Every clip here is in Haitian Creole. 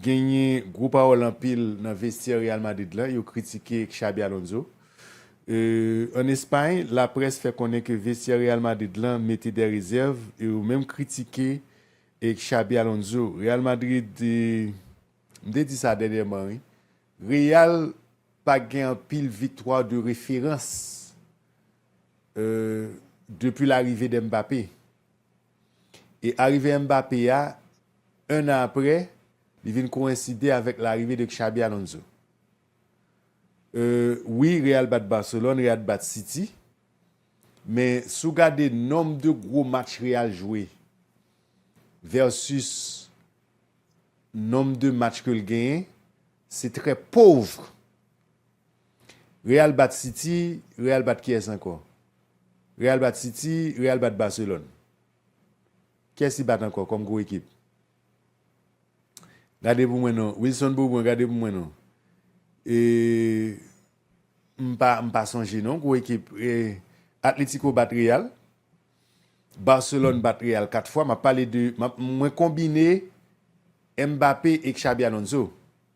Genyen gwo pawòl anpil nan vestyè Real Madrid la, yo kritike Xabi Alonso. An Espay, laprès fè konnen ke vestyè Real Madrid lan mete dè rezèv e yo menm kritike Xabi Alonso. Real Madrid, m te di sa dènyèman wi, Real pa gen anpil viktwa de referans depi larive de Mbappé. E arive Mbappé a, 1 an aprè, li vin koenside avèk larive de Xabi Alonso. Euh wi Real bat Barcelone, Real bat City, men si w gade nonb de gwo match Real jwe versus nonb de match ke l genyen, se trè pauvre Real bat city real bat kiyès ankò real bat city real bat Barcelone kiyès li bat ankò kòm gwo ekip gade pou mwen non Wilson Bourbon gade pou mwen non eehh m pa m pa sonje non gwo ekip eehh Atletico bat real Barcelone bat real 4 fwa map pale de mwen konbine Mbappé e Xabi Alonso.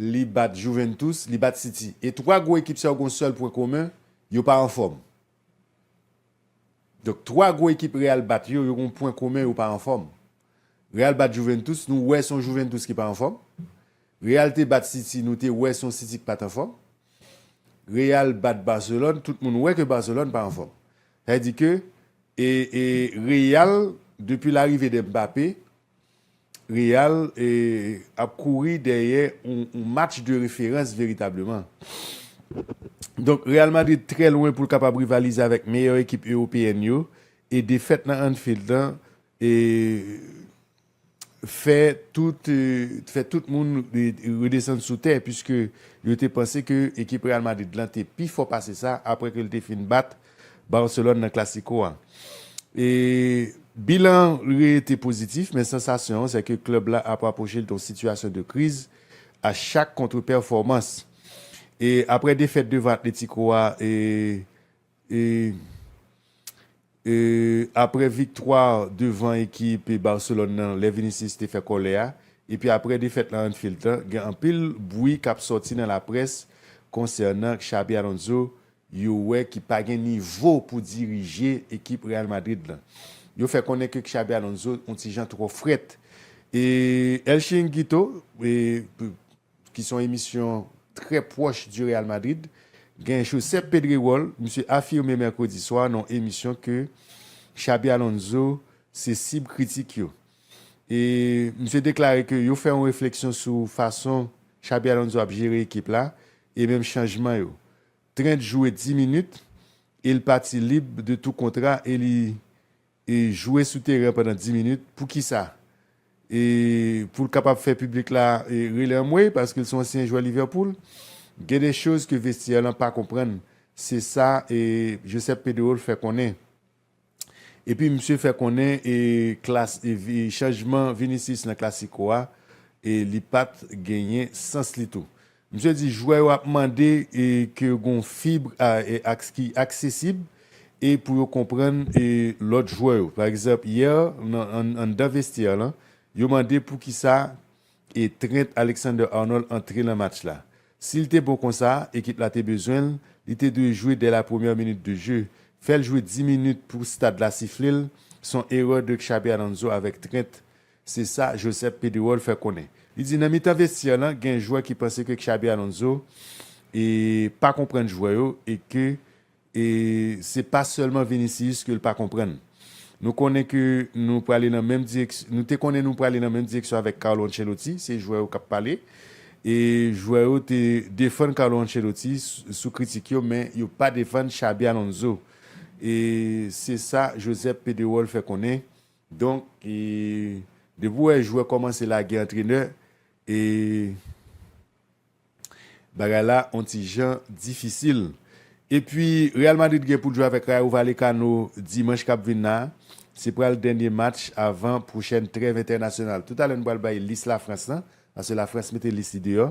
Li bat Juventus, li bat City. E 3 gwo ekip sa yo gen yon sèl pwen komen, yo pa anfòm. Donk 3 gwo ekip Real bat yo, yo gen yon pwen komen, yo pa anfòm. Real bat Juventus, nou wè se yon Juventus ki pa anfòm. Real te bat City, nou te wè se yon City ki pa t anfòm. Real bat Barcelone, tout moun wè ke Barcelone pa anfòm. Sa vle di ke Real, depi larive de Mbappé, Real ap kouri dèyè yon match de referans veritableman. Donk Real Madrid trè lwen pou l kapab rivalize avèk meyè ekip ewopeyèn yo e defèt nan Anfield lan fè tout moun redesann sou tè puiske yo te panse ke ekip Real Madrid lan te pi fò pase sa apre ke l te fin bat Barcelone nan Clasico a. E bilan an rete pozitif men sansasyon an se ke klèb la ap rapwoche l de yon sitiyasyon de kriz a chak kontrepèfòmans. E aprè defèt devan Atletico a e e e aprè viktwa devan ekip Barcelone nan lè Vinicius te fè kòlè a epi aprè defèt lan Anfield lan gen anpil bwi k ap sòti nan laprès konsènan Xabi Alonso yo wè ki pa gen nivo pou dirije ekip Real Madrid lan. Yo fè konnen ke Xabi Alonso on ti jan twò frèt. E El Chiringuito, ki son emisyon trè pwòch di Real Madrid, gen Josep Pedrerol, misye afime mèkredi swa nan on emisyon ke Xabi Alonso se sib kritik yo. E misye deklare ke yo fè on refleksyon sou fason Xabi Alonso ap jere ekip la e menm chanjman yo. 30 jou et 10 minit e l pati lib de tou kontra e li e jwe sou teren pandan 10 minit pou kisa? e pou l kapab fè piblik la e rele anmwey paske l son ansyen jwè Liverpool gen de choz ke vestyè lan pa konprann se sa e Josep Pedrerol fè konnen. Epi misye fè konnen e klas e chanjman Vinicius nan Clasico a e li pat genyen sans li tou. Misye di jwè yo ap mande e ke gon fib a e aks ki aksesib e pou yo konprann e lòt jwè yo. Pa egzanp yè nan anndan vestyè lan yo mande poukisa E Trent Alexander-Arnold antre nan match la. Si l te bon konsa, ekip la te bezwen l, li te dwe jwe dè la premyè minit de je. Fè l jwe 10 minit pou stad la sifle l, son erè de Xabi Alonso avèk Trent, se sa Josep Pedrerol fè konnen. Li di nan mitan vestyè lan gen jwè ki panse ke Xabi Alonso e pa konprann jwè yo e ke E se pa sèlman Vinicius ke l pa konprann. Nou konnen ke nou prale nan menm direksyon, nou te konnen nou prale nan menm direksyon avèk Carlo Ancelotti, se jwè yo k ap pale. E jwè yo te defann Carlo Ancelotti sou kritik yo men yo pa defann Xabi Alonso. E se sa Josep Pedrerol fè konnen. Donk, depi w wè jwè kòmanse lage antrenè, e. Bagay la on ti jan difisil. Epi Real Madrid gen pou l jwe avèk Rayo Vallecano dimanch k ap vin la a. Se pral dènye match avan pwochèn trèv entènasyonal. Toutalè nou pral bay lis Lafrans lan, paske Lafrans mete lis li deyò.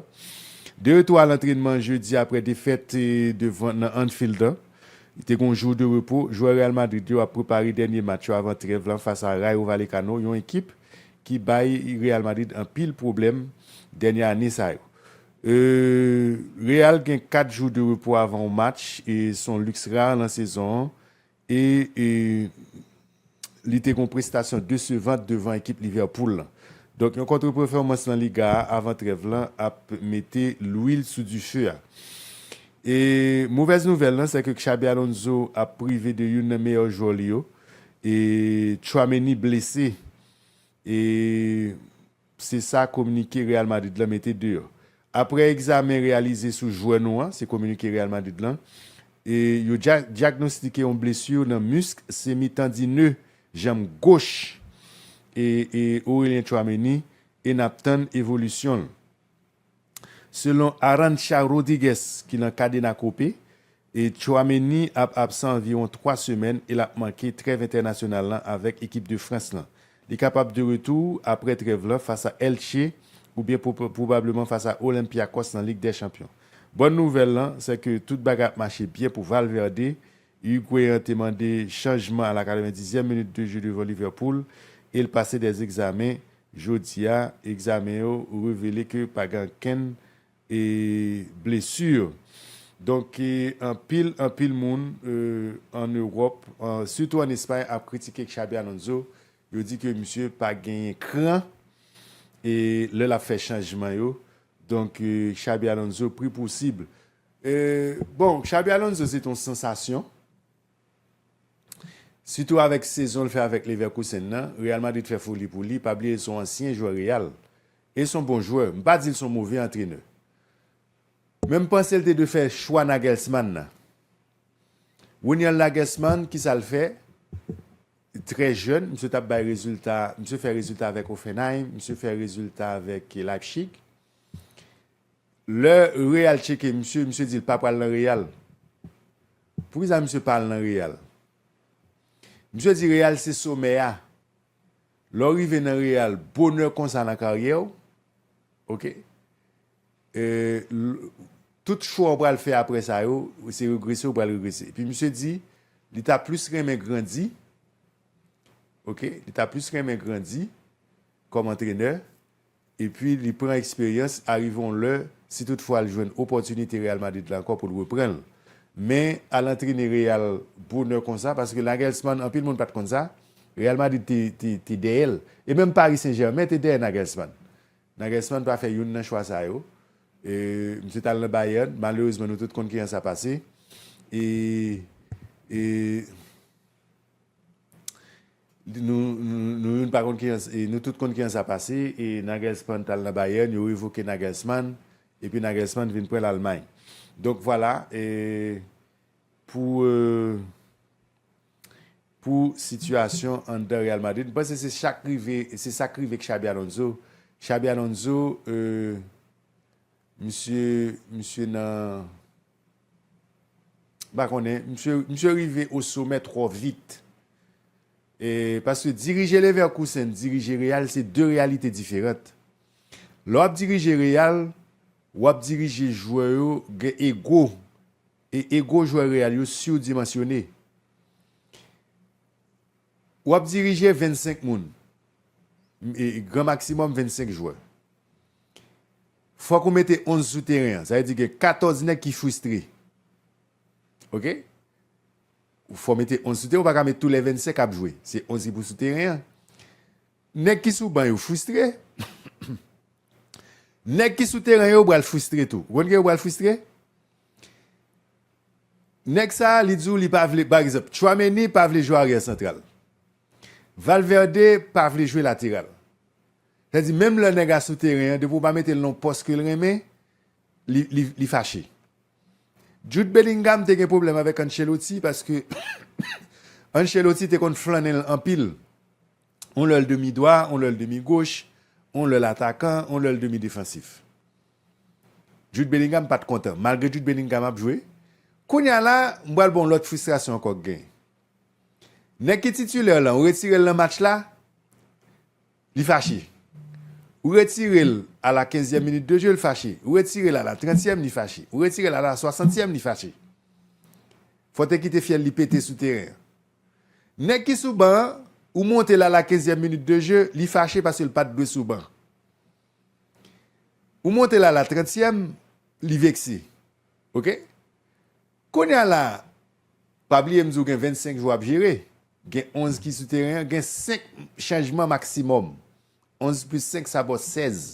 De retou a lantrenman jedi apre defèt devan nan Anfield lan. Li te gen yon jou de repo. Jwè Real Madrid yo ap prepare dènye match yo avan trèv lan fas a Rayo Vallecano, yon ekip ki bay Real Madrid anpil pwoblèm dènye ane sa yo. Real gen 4 jou de repo avan yon match, se yon liks rare nan sezon an e li te gen yon prestasyon desevant devan ekip Liverpool lan. Donk yon kontrepèfòmans nan Liga a avan trèv lan ap mete lwil sou dife a. Movèz nouvèl lan sèke Xabi Alonso ap prive de youn nan meyè jwè li yo, Tchouaméni blese e se sa kominike Real Madrid lan mete deyò. Aprè egzamen reyalize sou jwè nou an, se kominike Real Madrid lan, e yo dyagnostike yon blesu nan musk semi tandine janm goch e Aurelien Tchouameni e nap tann evolisyon l. Selon Arantxa Rodrigues ki nan Cadena Cope, Tchouaméni ap absan anviwon 3 semèn e l ap manke trèv entènasyonal lan avèk ekip de Frans lan. Li kapab de retou aprè trèv lan fas a Elche oubyen pwobableman fas a Olympiakos nan Lig dè Chanpyon. Bòn nouvèl lan, sè ke tout bagay ap mache byen pou Valverde Higuain te mande chanjman a la 90 ème minit de jeu devan Liverpool e l pase 2 egzamen jodi a, egzamen yo revele ke pa gen ankenn blesur. Donk anpil anpil moun an Ewòp sitou an Espay ap kritike Xabi Alonso, yo di ke misye pa genyen kran lè l ap fè chanjman yo, donk Xabi Alonso pri posib Bon, Xabi Alonso se te yon sansasyon, sitou avèk sezon l fè avèk Leverkusen nan, Real Madrid fè foli pou li, pa bliye l se yon ansyen jwè Real e se yon bon jwè, m pa di l se yon move antrenè. Men m panse l te dwe fè chwa Nagelsmann nan. Ronald Nagelsmann, kisa l fè? Trè jèn, misye t ap bay rezilta, misye fè rezilta avèk Hoffenheim, misye fè rezilta avèk Leipzig. Lè real tcheke misye, misye dil pa pral nan real. Poukiza misye pa al nan real? Misye di real se somè a. Lè w rive nan real bonè konsa nan karyè w ok tout chwa w pral fè aprè sa yo se regrese w pral regrese. Epi misye di li ta plis renmen grandi ok li ta plis renmen grandi kòm antrenè. epi li pran eksperyans, arive yon lè, si tout fwa l jwenn opòtinite Real Madrid la ankò pou l repran l. Men, al antrene Real bonè konsa, paske Nagelsmann, anpil moun pa t konn sa, Real Madrid te dèyè l, e menm Paris Saint Germain te dèyè Nagelsmann. Nagelsmann pa fè youn nan chwa sa yo, misye t al nan Bayern, malerezman nou tout konn kijan sa pase, e. Nou youn pa konn kijan e nou tout konn kijan sa pase e Nagelsmann t al nan Bayern, yo revoke Nagelsmann epi Nagelsmann vin pran Lalmay. Donk vwala e pou pou sitiyasyon anndan Real Madrid. M panse se chak rive se sa k rive Xabi Alonso. Xabi Alonso e misye misye nan M pa konnen, misye rive o somè twò vit. Paske dirije Leverkusen, dirije Real se 2 reyalite diferant. Lè w ap dirije Real, w ap dirije jwè yo gen ego. E ego jwè Real yo surdimensione. Ou ap dirije 25 moun, gran maksimòm 25 jwè. Fòk ou mete 11 sou teren an, sa vle di gen 14 nèg ki fristre. Ok? Ou fò mete 11 sou teren, ou pa ka met tou lè 25 ap jwe. Se 11 ki pou sou teren an. Nèg ki sou ban yo fristre, nèg ki sou teren yo pral fristre tou. Ou konn ki yo pral fristre? Nèg sa a li di w li pa vle, pa egzanp, Tchouameni pa vle jwe aryè santral. Valverde pa vle jwe lateral. Sa di menm lè nèg a sou teren an, depi w pa mete l nan yon pòs ke l renmen, li fache. Jude Bellingham te gen pwoblèm avèk Ancelotti paske Ancelotti te konn flannen l anpil. Yon lè l demi dwa, yon lè l demi goch, yon lè l atakan, yon lè l demi defansif. Jude Bellingham pat kontan malgre Jude Bellingham ap jwe kounya la m pral ba w lòt fristrasyon ankò k gen nèg ki titulaire lan ou retire l nan match la li fache ou retire l a la kenzyèm minit de jeu l fache ou retire l a la trantyèm li fache ou retire l a la swasantyèm li fache fò te kite fyèl li pete sou teren an nèg ki sou ban an ou monte l a la kenzyèm minit de jeu li fache paske l pat dwe sou ban. Ou monte la la trantyèm li vekse ok kounya la pa bliye m di w gen 25 jou ap jere gen 11 ki sou teren an gen 5 chanjman maksimòm 11 plis 5 sa ba w 16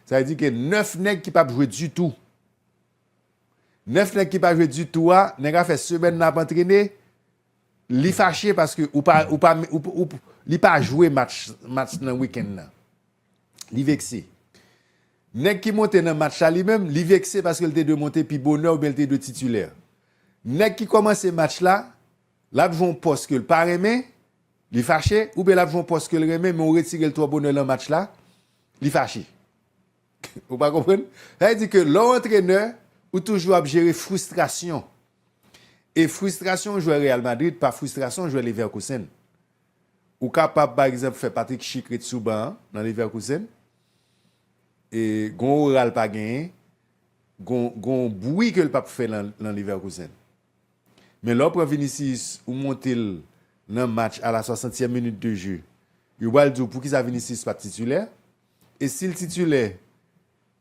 sa vle di ke 9 nèg ki pap jwe ditou 9 nèg ki pa jwe ditou a nèg a fè semèn nan ap antrene Li fache paske ou pa ou pa ou li pa jwe match match nan weekend nan. Li vekse. Nèg ki monte nan match la li menm li vekse paske li te dwe monte pi bonè oubyen li te dwe titulè. Nèg ki kòmanse match la, lap jwe yon pòs ke li pa renmen, li fache, oubyen lap jwe yon pòs ke li renmen men ou retire li twò bonè nan match la, li fache. Ou pa konprann? Sa vle di ke lè w antrenè, ou toujou ap jere fristrasyon. E fristrasyon jwè Real Madrid pa fristrasyon jwè Leverkusen. Ou kapab pa egzanp fè Patrick Schick ret sou ban an nan Leverkusen. E gon ora l pa genyen, gon gon bwi ke l pap fè nan nan Leverkusen. Men lè w pran Vinicius ou monte l nan match a la swasantyèm minit de je, yo pral di w poukisa Vinicius pat titulè? E si l titulè,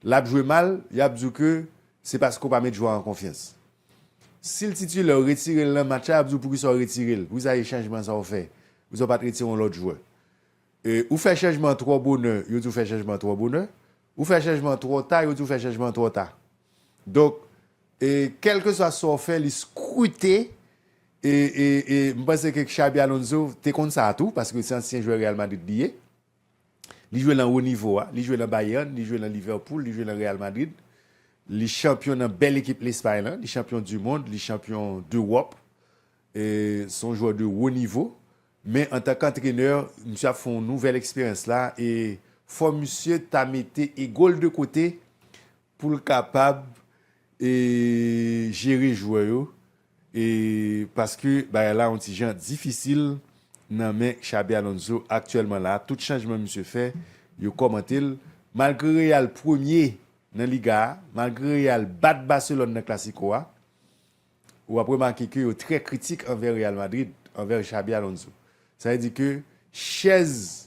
l ap jwe mal, y ap di w ke se paske ou pa met jwè a an konfyans. Si l titulè, ou retire l nan match la, y ap di w poukisa ou retire l, poukisa e chanjman sa ou fè, poukisa ou pa t retire yon lòt jwè. E ou fè chanjman an twò bonè, yo di w fè chanjman an twò bonè. Ou fè chanjman an twò ta, yo di w fè chanjman an twò ta. Donk, e kèlkeswa sa ou fè, li skrute. E, e, e m panse ke Xabi Alonso te konn sa a tou, paske se ansyen jwè Real Madrid li ye. Li jwe lan wo nivo a. Li jwe lan Bayern, li jwe lan Liverpool, li jwe lan Real Madrid. Li chanpyon nan bèl ekip Lespay lan. Li chanpyon du mond, li chanpyon dEwòp. Se yon jwè de wo nivo. Men antan kantrenè, misye ap fè yon nouvèl eksperyans la e fò misye ta mete ego l de kote pou l kapab jere jwè yo paske bagay la yon ti jan difisil nan men Xabi Alonso aktyèlman la tout chanjman misye fè yo kòmante l malgre Real premye nan Liga a malgre Real bat Barcelone nan Clasico a ou ap remake ke yo trè kritik anvè Real Madrid anvè Xabi Alonso sa vle di ke chèz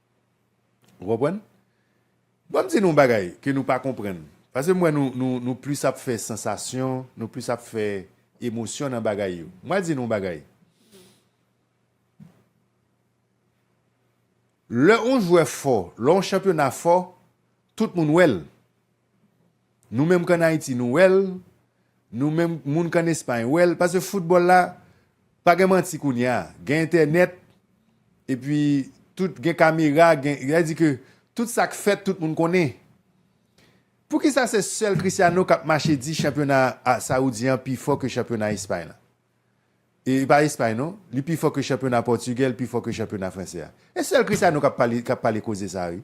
Ou konprann? Banm di nou yon bagay ke nou pa konprann. Pase m wè nou nou nou plis ap fè sansasyon, nou plis ap fè emosyon nan bagay yo. M pral di nou yon bagay. Lè yon jwè fò, lè yon chanpyona fò, tout moun wè l. Nou menm k an Ayiti nou wè l, nou menm moun k an Espay wè l. Pase foutbòl la, pa gen manti kounye a. Gen entènèt, epi tout gen kamera, gen, sa di ke tout sa k fèt tout moun konnen. Poukisa se sèl Christiano k ap mache di chanpyona Saoudyen an pi fò ke chanpyona Espay la? E pa Espay non, li pi fò ke chanpyona Pòtigè, li pi fò ke chanpyona Fransè a. E sèl Christiano k ap pale, k ap pale koze sa a wi.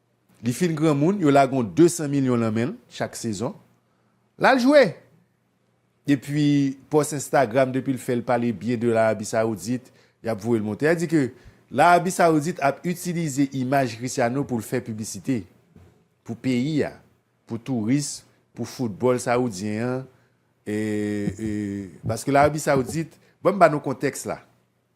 Li fin granmoun, yo lage yon 200 milyon lan men l chak sezon. L al jwe! Epi pòs Instagram depi l fè l pale byen de Larabi Sawoudit, y ap voye l monte. Sa vle di ke Larabi Sawoudit ap itilize imaj Cristiano pou l fè piblisite pou peyi a, pou touris, pou foutbòl sawoudyen an. Paske Larabi Sawoudit, ban m ba nou kontèks la.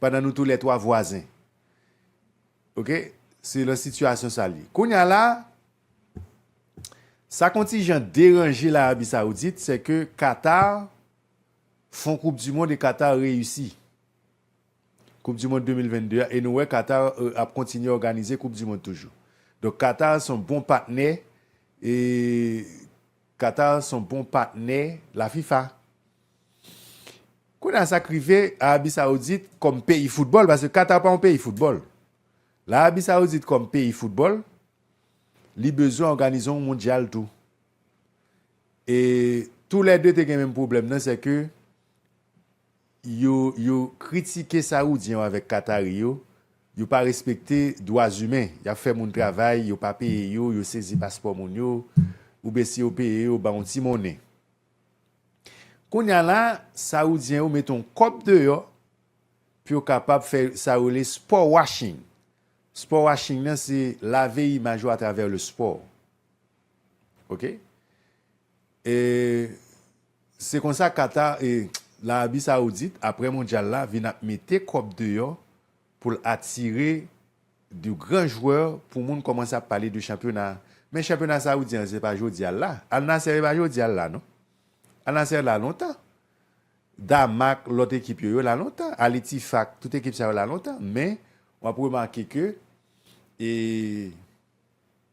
pandan nou tou lè twa vwazen ok se lan sitiyasyon sa lye kounya la sa k on ti jan deranje larabi sawoudit se ke Qatar fon koup di mond e Qatar reyisi koup di mond 2022 a e nou wè Qatar ap kontinye òganize koup di mond toujou donk Qatar son bon patnè e. Qatar son bon patnè la fifa. Kounye a sak rive Arabi Saoudit kòm peyi foutbòl paske Qatar pa yon peyi foutbòl. Larabi Saoudit kòm peyi foutbòl li bezwen òganize yon mondyal tou. E tou lè 2 te gen menm pwoblèm nan sè ke Yo yo kritike saoudyen yo avèk katari yo, yo pa respekte dwa zimen, yap fè moun travay yo pa peye yo, yo sezi paspò moun yo, oubyen si yo peye yo ba yon ti monnen. Kounya la saoudyen yo mete yon kòb deyò pou yo kapab fè sa yo rele sport washing. Sport washing nan se lave imaj ou atravè le sport. Ok. E Se konsa Qatar e Larabi Saoudit aprè mondyal la vin ap mete kòb deyò pou l atire de gran jwè pou moun kòmanse ap pale de chanpyona a. Men chanpyona Saoudyen an se pa jodi a l la. Al Nassr e pa jodi a l la non. Al Nassr la lontan. Damak, lòt ekip yo, yo la lontan. Al Ittifaq, tout ekip sa yo la lontan. Men w ap remake ke e.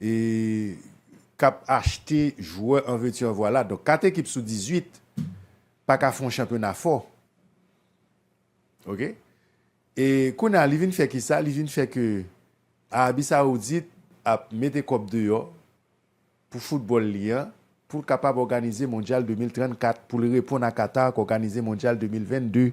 k ap achte jwè an vèti an vwala. Donk 4 ekip sou 18 pa ka fè yon chanpyona fò. Ok. E kounye a li vin fè kisa? Li vin fè ke Arabi Saoudit ap mete kòb deyò pou foutbòl li an pou l kapab òganize mondyal 2034 pou l reponn a Qatar k òganize mondyal 2022.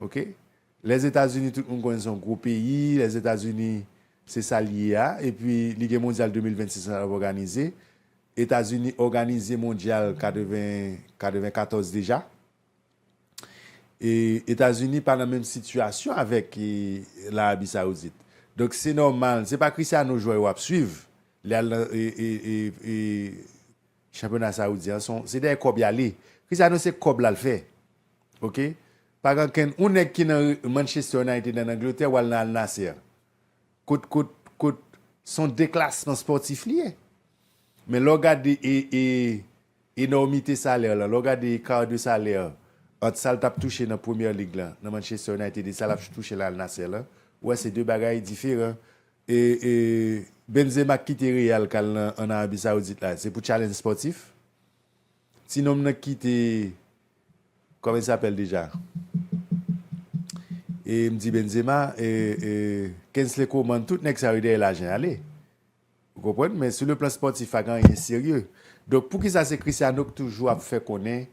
Ok lèzetazini tout moun konnen son gwo peyi lèzetazini se sal ye a epi li gen mondyal 2026 lan lap òganize etazini òganize mondyal 80 94 deja e etazini pa nan menm sitiyasyon avèk larabi saoudit donk se nòmal se pa krisyano jwè yo ap swiv lè al nan e Chanpyona saoudi an son se dèyè kòb yale Cristiano se kòb lal fè ok pa gen ankenn yon nèg ki nan Manchester United an Angleterre wal nan Al Nassr kot kot kot son deklasman spòtif li ye men lèw gade e e enòmite salèr lan lèw gade ekar de salèr ant sal tap touche nan Premier League lan nan Manchester United e sa lap touche nan Al Nassr lan ou wè se de bagay diferan E e Benzema k kite Real kal nan an Arabie Saoudite la se pou challenge sportif? Ti nonm nan k kite Kòman il s'appelle deja? E m di Benzema e e Kingsley Coman tout nèg sa yo dèyè lajan ale. Ou konprann men sou le plan sportif pa gen anyen serye. Donk poukisa se Cristiano k toujou ap fè konnen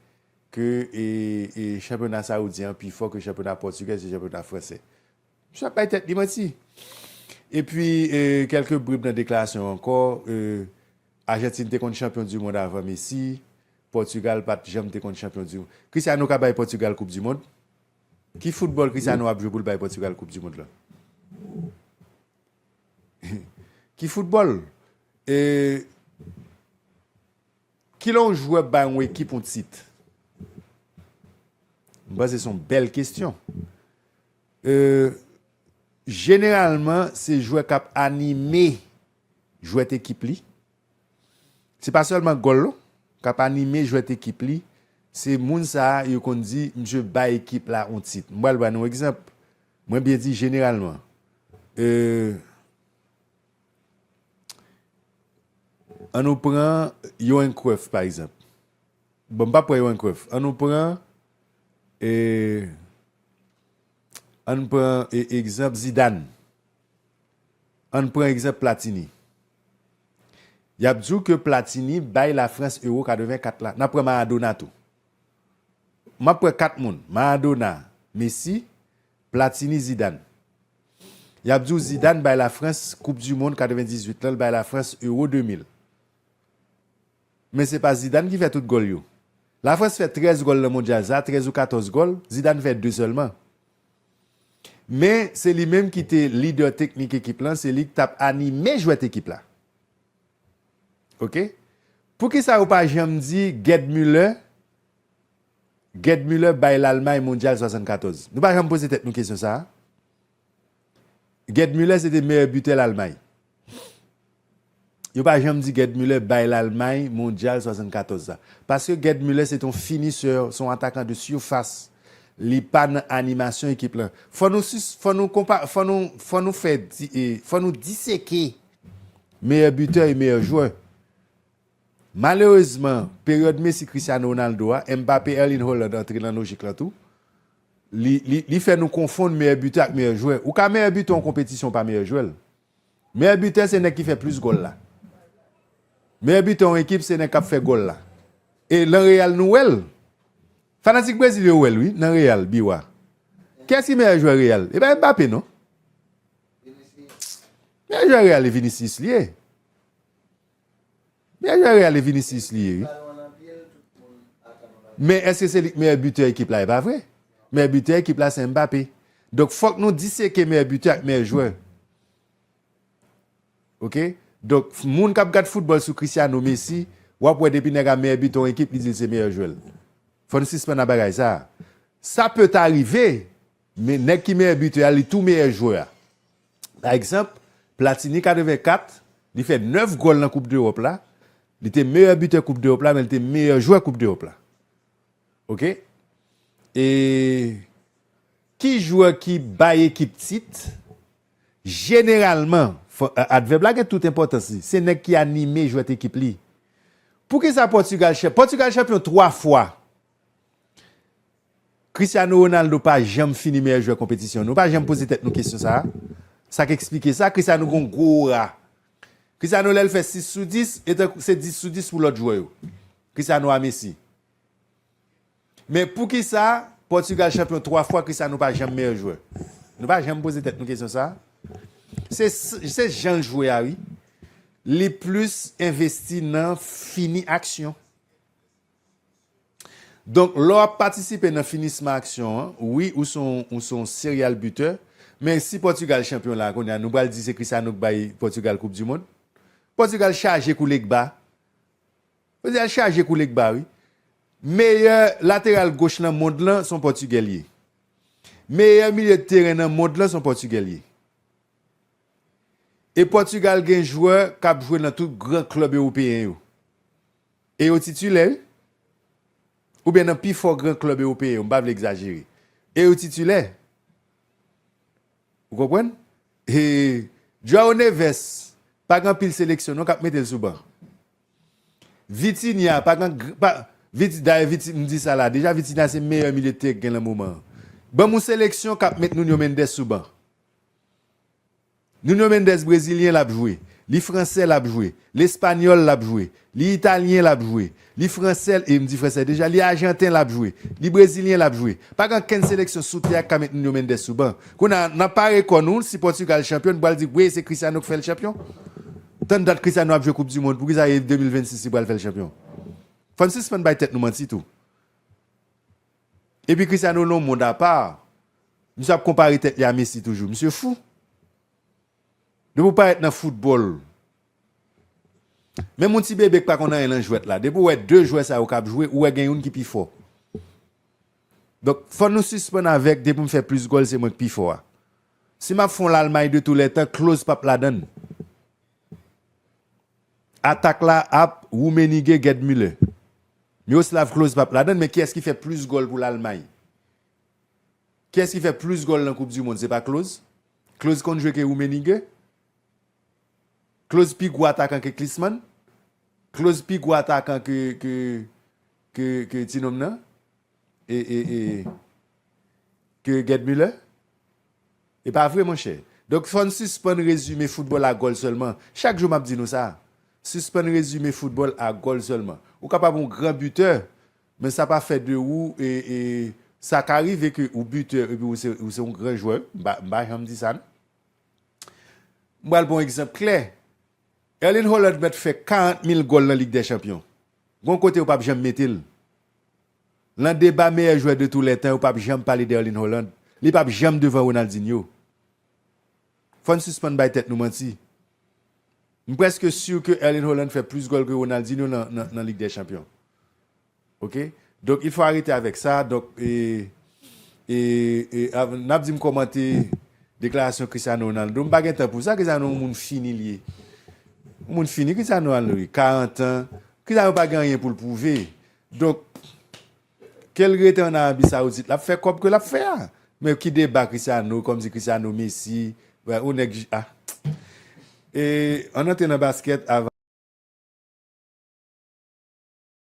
ke e e chanpyona Saoudyen an pi fò ke chanpyona Portugais e chanpyona Fransè? Misye ap bay tèt li manti. Epi kelke brib nan deklarasyon ankò, Argentine te konn chanpyon du mond avan Messi, Portugal pat janm te konn chanpyon du mond. Cristiano ka bay Portugal koup du mond? Ki foutbòl Cristiano ap jwe poul bay Portugal koup du mond la? Ki foutbòl? Kilè yon jwè bay yon ekip yon tit? Mpanse son bèl kestyon. Euh Jeneralman se jwè k ap anime jwèt ekip li. Se pa sèlman gòl non. K ap anime jwèt ekip li. Se moun sa yo konn di misye bay ekip la yon tit. M pral ba nou yon egzanp. Mwen byen di jeneralman. Euh An nou pran Yohan Cruyff pa egzanp. Bon m pap pran yon krèf. An nou pran e An n pran e egzanp Zidane. An n pran egzanp Platini. Y ap di w ke Platini bay Lafrans Euro 84 la. N ap pran Maradona tou. M ap pran 4 moun. Maradona, Messi, Platini, Zidane. Y ap di w Zidane bay Lafrans koup di mond 98 lan, l bay Lafrans Euro 2000. Men se pa Zidane ki fè tout gòl yo. La Frans fè 13 gòl nan Mondyal sa, 13 ou 14 gòl, Zidane fè 2 sèlman. Men se li menm ki te lidè teknik ekip lan, se li ki t ap anime jwèt ekip la. Ok. Poukisa yo pa janm di Gerd Müller, Gerd Müller bay Lalmay Mondyal 74? Nou pa janm poze tèt nou kesyon sa a? Gerd Müller se te meyè bitè Lalmay. Yo pa janm di Gerd Müller bay Lalmay mondyal 74 la. Paske Gerd Müller se te yon finisè, se yon atakan de surface, li pa nan animasyon ekip lan. Fò nou fò nou konpa fò nou fò nou fè fò nou diseke meyè bitè e meyè jwè. Malerezman, peryòd Messi, Cristiano Ronaldo a, Mbappé, Erling Haaland antre nan lojik lan tou. Li fè nou konfonn meyè bitè ak meyè jwè. Ou ka meyè bitè yon konpetisyon pa meyè jwè l. Meyè bitè se nèg ki fè plis gòl la. Meyè bitè yon ekip se nèg kap fè gòl la. E lan Real nou wè l. Fanatik Brezil yo wè l wi nan Real Biwa. Kiyès ki meyè jwè Real? E pa Mbappé non. Meyè jwè Real e Vinicius li ye. Meyè jwè Real e Vinicius li ye wi. Men eske se li k meyè butè ekip la e pa vre. Meyè butè ekip la se Mbappé. Donk fok nou diseke meyè butè ak meyè jwè. Ok donk moun kap gad football sou Cristiano Messi wap wè depi nèg a meyè butè yon ekip li dil se meyè jwèl. Fò nou sispann a bagay sa. Sa peut arrive men nèg ki meyè butè a li tou meyè jwè a. Pa egzanp, Platini 84, li fè 9 gòl nan koup dEròp la, li te meyè bitè koup dEròp la men li te meyè jwè koup dEròp la. Ok. E ki jwè ki bay ekip tit? Jeneralman, advèb la gen tout enpòtans li, se nèg ki anime jwèt ekip li. Poukisa Pòtigal, Pòtigal chanpyon 3 fwa. Cristiano Ronaldo pa janm fini meyè jwè konpetisyon. Nou pa janm poze tèt nou kesyon sa a? Sa k eksplike sa? Cristiano gen yon gwo ora. Cristiano lè l fè 6 sou 10, e tankou se 10 sou 10 pou lòt jwè yo. Cristiano a Messi. Men poukisa Pòtigal chanpyon 3 fwa Cristiano pa janm meyè jwè? Nou pa janm poze tèt nou kesyon sa a? Se jan l jwe a wi. Li plis envesti nan fini aksyon. Donk lè w ap patisipe nan finisman aksyon an, wi ou se yon serial bitè, men si Pòtigal chanpyon la a kounye a nou pral di se Christiano k bay Pòtigal koup di mond? Pòtigal chaje kou Legba. Pòtigal chaje kou Legba wi. Meyè lateral goch nan mond lan se yon pòtigè l ye. Meyè milye de teren nan mond lan se yon pòtigè l ye. E Pòtigal gen jwè k ap jwe nan tout gran klèb ewopeyen yo. E yo titilè wi. Oubyen nan pi fò gran klèb ewopeyen yo, m pa vle egzajere. E yo titilè. Ou konprann? E Joao Neves pa gen anpil seleksyon non k ap mete l sou ban. Vitinha pa gen, dayè Viti, m di sa la, deja Vitinha se meyè milye de teren k gen lan moman an. Ban m yon seleksyon k ap met Nuno Mendes sou ban. Nuno Mendes brezilyen lap jwe, li fransè lap jwe, l espanyòl lap jwe, li italyen lap jwe, li fransè e m di fransè deja, li ajanten lap jwe, li brezilyen lap jwe. Pa gen ankenn seleksyon sou tè a k ka met Nuno Mendes sou ban. Kounye a, nan pare kò nou, si Pòtigal chanpyon, nou pral di, wee se Cristiano k fè l chanpyon? Tann dat Cristiano ap jwe koup dimond, poukisa e 2026 li pral fè l chanpyon? Fò n sispann bay tèt nou manti tou. Epi Cristiano non mond a pa. Misye ap konpare tèt li a Messi toujou. Misye fou. Depi w parèt nan foutbòl. Menm yon ti bebe k pa konn anyen nan jwèt la. Depi w wè 2 jwè sa yo k ap jwe, ou wè gen youn ki pi fò. Donk fò nou sispann avèk depi m fè plis gòl se mwen k pi fò a. Si m ap fè yon Lalmay de tou lè tan, Klose p ap ladann. Atak la ap Rummenigge Gerd Müller Miroslav Klose pap ladann men kiyès ki fè plis gòl pou Lalmay? Kiyès ki fè plis gòl nan koup di mond se pa Klose? Klose konn jwe ke Rummenigge? Klose pi gwo atakan ke Klisman? Klose pi gwo atakan ke ke ke ti nonm nan? E e e ke Gerd Muller? E pa vre monchè. Donk fò n sispann rezime foutbòl a gòl sèlman. Chak jou m ap di nou sa. Sispann rezime foutbòl a gòl sèlman. Ou kapab yon gran bitè, men sa pa fè de ou e e sa ka rive ke ou bitè epi ou se ou se yon gran jwè. M pa m pa janm di sa non. M pral ba w yon egzanp klè. Erling Haaland mèt fè 40 mil gòl nan Lig dè chanpyon. Gon kote yo pap janm mete l Lan deba meyè jwè de tou lè tan yo pap janm pale d'Erling Haaland li pap janm devan Ronaldinho fòn sispann bay tèt nou manti m prèske sur ke Erling Haaland fè plus gòl ke Ronaldinho nan nan lig dè chanpyon ok Donk il fo arete avek sa donk e e e avn nap dim komante deklarasyon Cristiano Ronaldo m pa gen tan pou sa Cristiano yon moun fini l ye yon moun fini Cristiano al wi 40 ans Cristiano pa gen anyen pou l pwouve donk ke l rete an Arabie Saoudite lap fè kob ke lap fè a men ki deba Cristiano kom si Cristiano Messi vwè yon neg ah e ann antre nan basket avan.